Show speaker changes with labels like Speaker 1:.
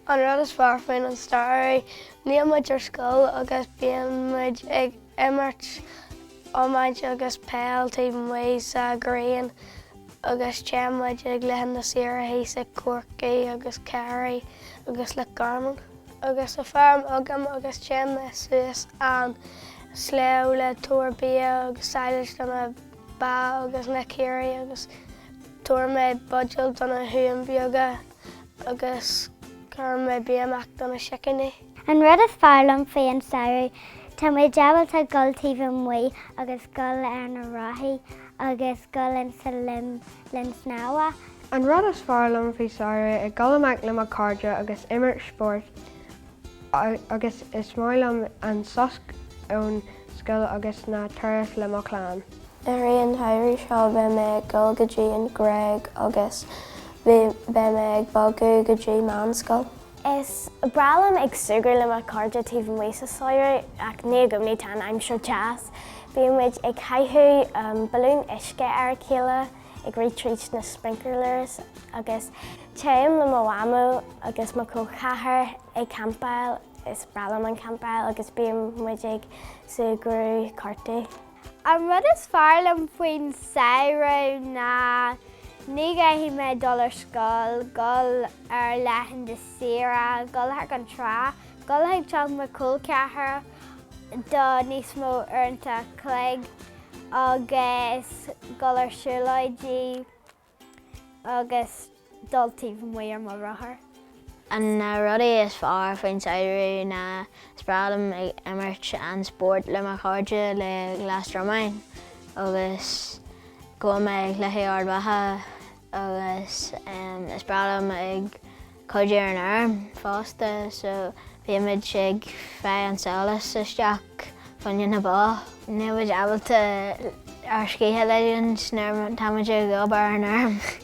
Speaker 1: An rud is fearr faoin an samhradh, níl muid ar scoil agus bíonn muid ag imirt iomáint agus peil taobh amuigh sa ghrian agus téann muid ar laethanta saoire thíos i gCorcaigh agus Ciarraí agus Loch Garman. agus tá feirm agam agus téim suas an sléibh le tabhair bia agus sadhlas do na ba agus na caoirigh agus tabhair mé buidéal do na huain bheaga agus cuir mé bia amach do na sicíní. An rud is fearr liom faoi an samhradh tá muid ábalta dul taobh amuigh agus dul ar na rothaí agus dul insa linn snámha An rud is fearr liom faoi samhradh ná dul amach le mo cairde agus imirt spóirt agus is maith liom an sos ón scoil agus na turas le mo chlann. Ar an samhradh seo beidh mé ag dul go dtí an Gréig agus beidh mé ag bogadh go dtí meánscoil. Is breá liom ag súgradh le mo cairde taobh amuigh sa samhradh ach ní i gcónaí a tá an aimsir deas. Bíonn muid ag caitheamh balún uisce ar a chéile, ag rith tríd na sprinklers agus téim le mo mhamó agus mo col ceathrair ag campáil is breá liom an campáil agus bíonn muid ag súgradh cártaí. An rud is fearr liom faoin samhradh ná ní gcaithfidh mé dul ar scoil, dhul ar laethanta saoire, dhul chuig an trá, dhul chuig teach mo col ceathrair, do níos mó uaireanta cloig agus dul ar siúlóidí agus dul taobh amuigh ar mo rothar. An na rudaí is fearr faoin samhradh ná is breá liom ag imirt an spórt le mo chairde le Gaeil Dhromainn agus ag gabháil ag cluichí Ard Mhacha agus is breá liom ag cuidiú ar an fheirm fosta so bímid ag fáil an sadhlas isteach faoi choinne na ba. Níl muid ábalta ár scíth a ligint nuair atá muid ag obair ar an fheirm.